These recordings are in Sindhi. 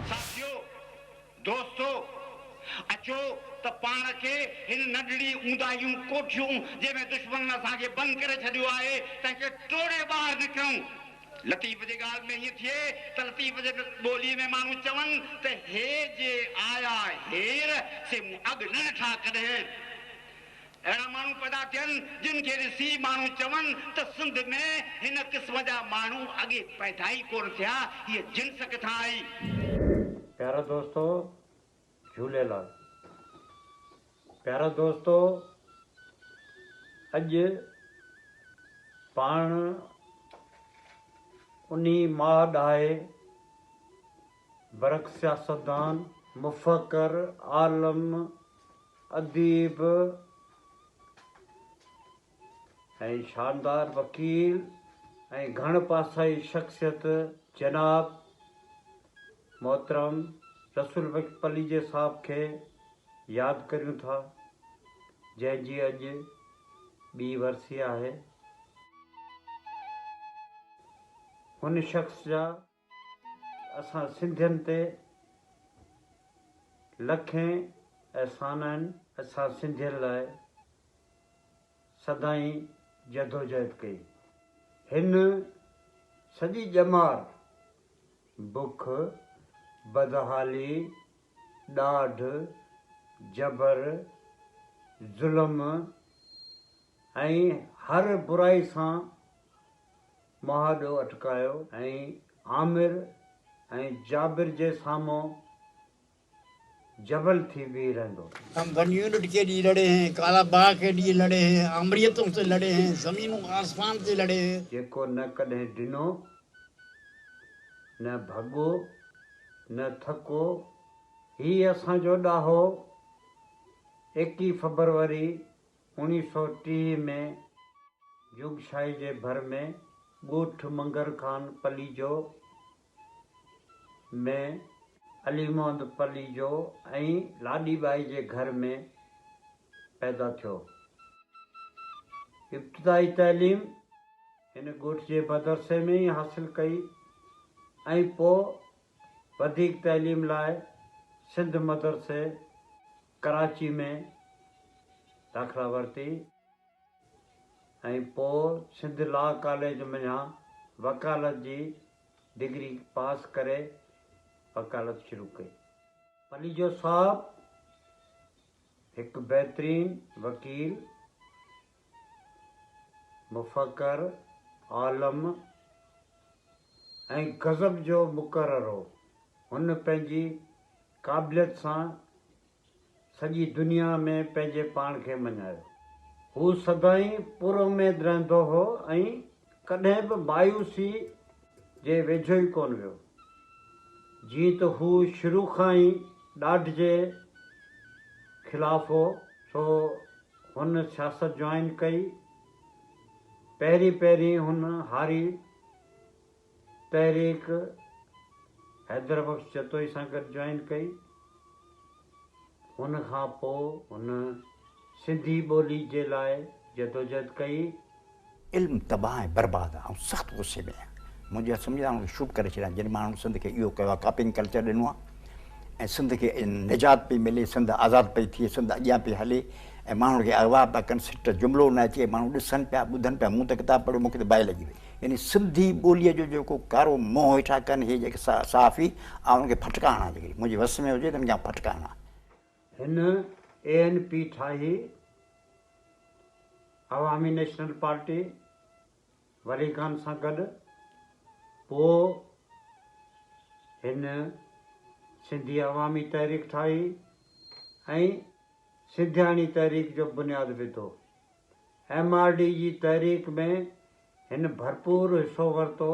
ساٿيو، دوستو، اچو ته پاڻ کي هن ننڍڙي اونداهيون ڪوٺيون جنهن ۾ دشمنن اسان کي بند ڪري ڇڏيو آهي، تنهن کي ٽوڙي ٻاهر نڪرون. لطيف جي ڳالهه ۾ ائين ٿئي ته لطيف جي ٻوليء ۾ ماڻهو چون ته هي جي آيا هير سي مون اڳ نه ڏٺا ڪڏهن. اهڙا ماڻهو پيدا ٿين جن کي ڏسي ماڻهو چون ته سنڌ ۾ هن قسم جا ماڻهو اڳي پيدا ئي ڪونه ٿيا، هيء جنس ڪٿان آئي؟ پيارو دوستو! جهوليلال پيارا دوستو اڄ پاڻ انهي ماهه ڏاهي برک سياستدان، مفڪر، عالم، اديب، ۽ شاندار وڪيل ۽ گهڻ پاسائي شخصيت جناب محترم رسول بخش پليجي صاحب کي ياد ڪريون ٿا جنهن جي اڄ ٻي ورسي آهي هن شخص جا اسان سنڌين تي لکين احسان آهن. اسان سنڌين لاء سدائين جدوجهد ڪئي. هن سڄي ڄمار بک، بدحالي، ڏاڍ، جبر، ظلم ۽ هر برائي سان مهاڏو اٽڪايو ۽ عامر ۽ جابر جي سامهون جبل ٿي بيهي رهندو. هم بن يونٽ ڪي لئي لڙي هين، ڪالا باغ ڪي لئي لڙي هين، آمريتون سي لڙي هين، زمين و آسمان سي لڙي هين. جيڪو نه ڪڏهن ڊنو، نه ڀڳو، نه ٿڪو، هي اسان جو ڏاهو ايڪي فبروري اوڻيهه سؤ ٽيهه ۾ جوڳشاهي جي ڀر ۾ ڳوٺ منگر خان پليجو ۾ علي محمد پليجو ۽ لاڏي ٻائي جي گهر ۾ پيدا ٿيو. ابتدائي تعليم هن ڳوٺ جي مدرسي ۾ ئي حاصل ڪئي ۽ پوء وڌيڪ تعليم لاء سنڌ مدرسي ڪراچي ۾ داخلا ورتي ۽ پوء سنڌ لا ڪاليج منجهان وڪالت جي ڊگري پاس ڪري وڪالت شروع ڪئي. پليجو صاحب هڪ بهترين وڪيل مفڪر، عالم ۽ غضب جو مقرر هو. هن پنهنجي قابليت سان سڄي دنيا ۾ پنهنجي پاڻ کي مڃايو. هو سدائين پر اميد رهندو هو ۽ ڪڏهن به مايوسي جي ويجهو ئي ڪونه ويو. جيئن ته هو شروع کان ئي ڏاڍ جي خلاف هو، سو هن سياست جوائن ڪئي. پهرين پهرين هن هاري تحريڪ حيدربخش جتوئي سان گڏ جوائن ڪئي. هن کان پوء هن سنڌي ٻولي جي لاء جدوجهد ڪئي. علم تباهه ۽ برباد آ. آئون سخت غصي ۾ آهيان. منهنجي اهي سمجهه آئون شروع ڪري ڇڏيا جن ماڻهن سنڌ کي اهو ڪيو آ ڪاپنگ ڪلچر ڏنو آ ۽ سنڌ کي نجات پئي ملي سنڌ آزاد پئي ٿئي سنڌ اڳيان پئي هلي ۽ ماڻهن کي اغوا پيا ڪن سٽ جملو نه اچي ماڻهو ڏسن پيا ٻڌن پيا مون ته ڪتاب پڙهيو مون کي ته باهه لڳي وئي. يعني سنڌي ٻوليء جو جيڪو ڪارو منهن هيٺان ڪن هي جيڪي صحافي آئون انهن کي ڦٽڪا هڻان جيڪڏهن منهنجي وس ۾ هجي ته انهن کي آئون ڦٽڪا هڻان. هن اي اين پي ٺاهي، عوامي نيشنل پارٽي، ولي خان سان گڏ، پوء هن سنڌي عوامي تحريڪ ٺاهي ۽ سنڌياڻي تحريڪ جو بنياد وڌو. ايم آر ڊي جي تحريڪ ۾ هن ڀرپور حصو ورتو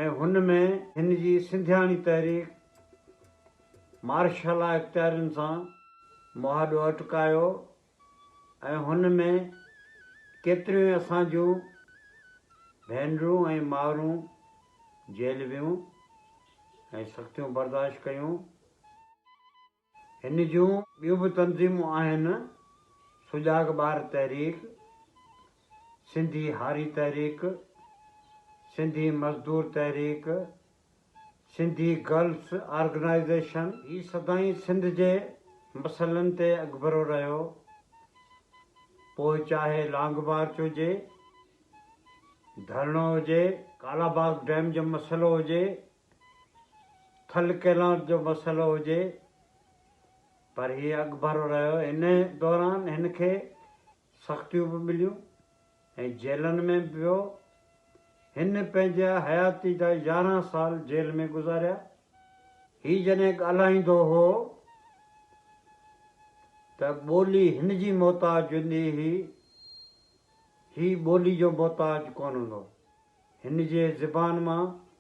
۽ هن ۾ هن جي سنڌياڻي تحريڪ مارشلا اختيارين سان مهاڏو اٽڪايو ۽ هن ۾ ڪيتريون ئي اسان جون ڀينرون ۽ مائرون جيلويون ۽ سختيون برداشت ڪيون. هن جون ٻيون به تنظيمون آهن، سجاڳ ٻار تحريڪ، سنڌي هاري تحريڪ، سنڌي مزدور تحريڪ، سنڌي گرلس آرگنائيزيشن. هي سدائين سنڌ جي مسئلن تي اڳڀرو رهيو، پوء چاهي لانگ مارچ هجي، ڌرڻو هجي، ڪالا باغ ڊيم جو مسئلو هجي، کل کيلات جو مسئلو هجي پر هي اڳڀرو رهيو، ان دوران هن کي سختيون به مليون ۽ جيلن ۾ به ويو، هن پنهنجا حياتي جا يارهن سال جيل ۾ گذاريا، هي جڏهن ڳالهائيندو هو ته ٻولي هن جي محتاج هوندي هئي، هي ٻولي جو محتاج ڪونه هوندو هو، هن جي زبان مان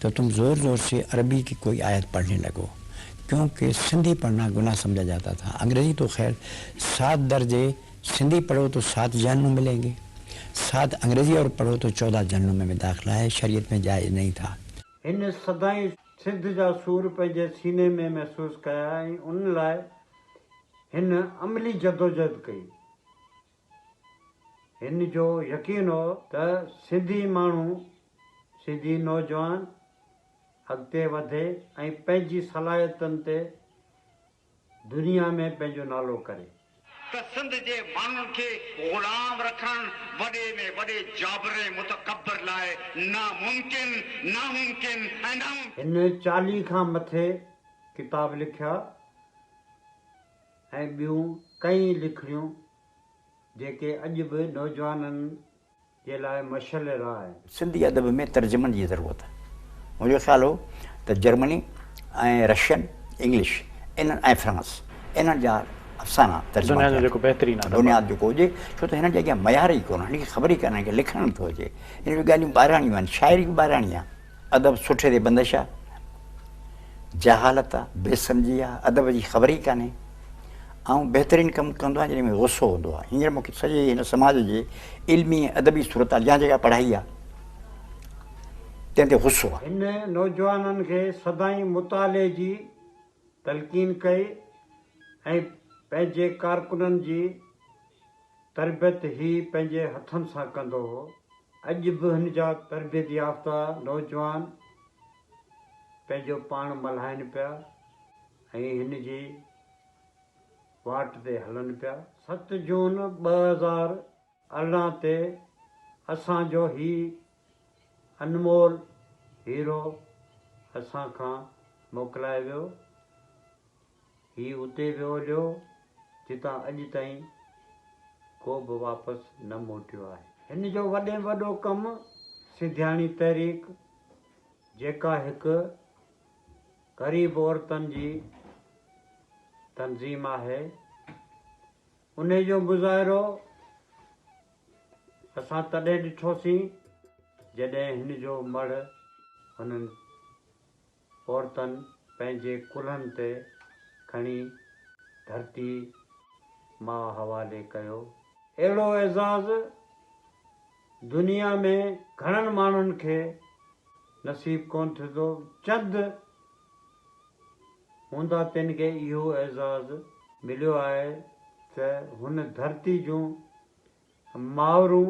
تو تم زور زور سي عربي ڪي ڪوئي آيت پڙهني لڳو ڪيون ڪي سنڌي پڙهنا گناه سمجها جاتا ٿا انگريزي تو خير سات درجي سنڌي پڙهو تو سات جهنمون ملين گي سات انگريزي اور پڙهو تو چودهه جهنمون ۾ داخلا هي شريعت ۾ جائز نهين ٿا. هن سدائين سنڌ جا سور پنهنجي سيني ۾ محسوس ڪيا ۽ ان لاء هن عملي جدوجهد ڪئي. هن جو يقين هو ته سنڌي ماڻهو، سنڌي نوجوان اڳتي وڌي ۽ پنهنجي صلاحيتن تي دنيا ۾ پنهنجو نالو ڪري. ته سنڌ جي ماڻهن کي غلام رکڻ وڏي ۾ وڏي جابر ۽ متڪبر لاء ناممڪن، ناممڪن ۽ ناممڪن. هن چاليهه کان مٿي ڪتاب لکيا. ۽ ٻيون ڪئين لکڻيون جيڪي اڄ به نوجوانن جي لاء مشعل راهه آهن. سنڌي ادب ۾ ترجمن جي ضرورت. منهنجو خيال هو ته جرمني ۽ رشين، انگلش، انهن ۽ فرانس، انهن جا افسانا ترجما ٿيا آهن ته بنياد جيڪو هجي، ڇو ته هنن جي اڳيان معيار ئي ڪونه، هنن کي خبر ئي ڪانهي ته لکڻ به ٿو اچي. هنن جون ڳالهيون ٻاهراڻيون آهن، شاعري به ٻاهراڻي آهي. ادب سٺي تي بندش آ، جهالت آ، بي سمجهي آ، ادب جي خبر ئي ڪانهي. آئون بهترين ڪم ڪندو آهيان جڏهن مون کي غصو هوندو آهي. هينئر مون کي سڄي هن سماج جي علمي ۽ ادبي صورتحال يا جيڪا پڙهائي آ تنهن تي غصو آ. هن نوجوانن کي سدائين مطالعي جي تلقين ڪئي ۽ پنهنجي ڪارڪنن جي. تربيت هي پنهنجي هٿن سان ڪندو هو. اڄ به هن جا تربيت يافته نوجوان پنهنجو پاڻ ملهائين پيا ۽ هن جي واٽ تي هلن پيا. ست جون ٻه هزار ارڙهن تي اسان جو هي انمول هيرو اسان کان موڪلائي ويو. هي اتي ويو هليو جتان اڄ تائين ڪو به واپس نه موٽيو آهي. هن جو وڏي ۾ وڏو ڪم سيڌياڻي تحريڪ جيڪا هڪ غريب عورتن جي تنظيم آهي انهي جو مظاهرو اسان تڏهن ڏٺوسين جڏهن هن جو مڙهه هنن عورتن پنهنجي ڪلهن تي کڻي ڌرتي ماء حوالي ڪيو. اهڙو اعزاز دنيا ۾ گهڻن ماڻهن کي نصيب ڪونه ٿيندو، چند هوندا تن کي اهو اعزاز مليو آهي ته هن ڌرتي جون مائرون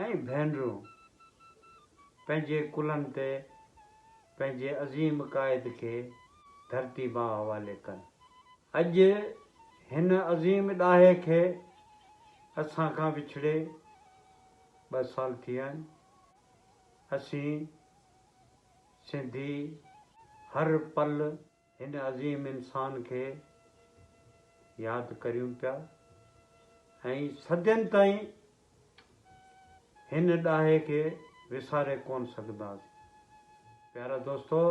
۽ ڀينرون پنهنجي ڪلهن تي پنهنجي عظيم قائد کي ڌرتي ماء حوالي ڪن. اڄ هن عظيم ڏاهي کي اسان کان وڇڙي ٻه سال ٿي ويا آهن. اسين سنڌي هر پل. هن عظيم انسان کي ياد ڪريون پيا ۽ صدين تائين هن ڏاهي کي وساري ڪونه سگهنداسين. پيارا دوستو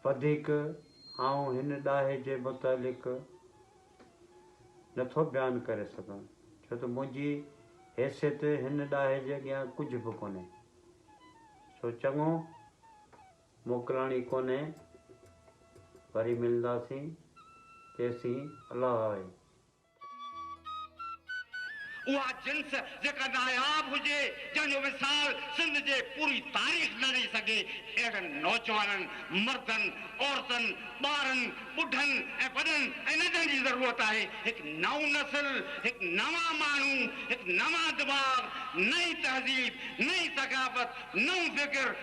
وڌيڪ آئون هن ڏاهي جي متعلق نٿو بيان ڪري سگهان ڇو ته منهنجي حيثيت هن ڏاهي جي اڳيان ڪجهه به ڪونهي سو چڱو. موڪلڻي ڪونهي وري ملنداسين تيسين الله آهي. اها جنس جيڪا ناياب هجي جنهن جو وصال سنڌ جي پوري تاريخ نه رهي سگهي اهڙن نوجوانن مردن عورتن ٻارن ٻڍن ۽ وڏن ۽ ننڍن جي ضرورت آهي هڪ نئون نسل هڪ نوان ماڻهو هڪ نوان دماغ نئين تهذيب نئين ثقافت نئون فڪر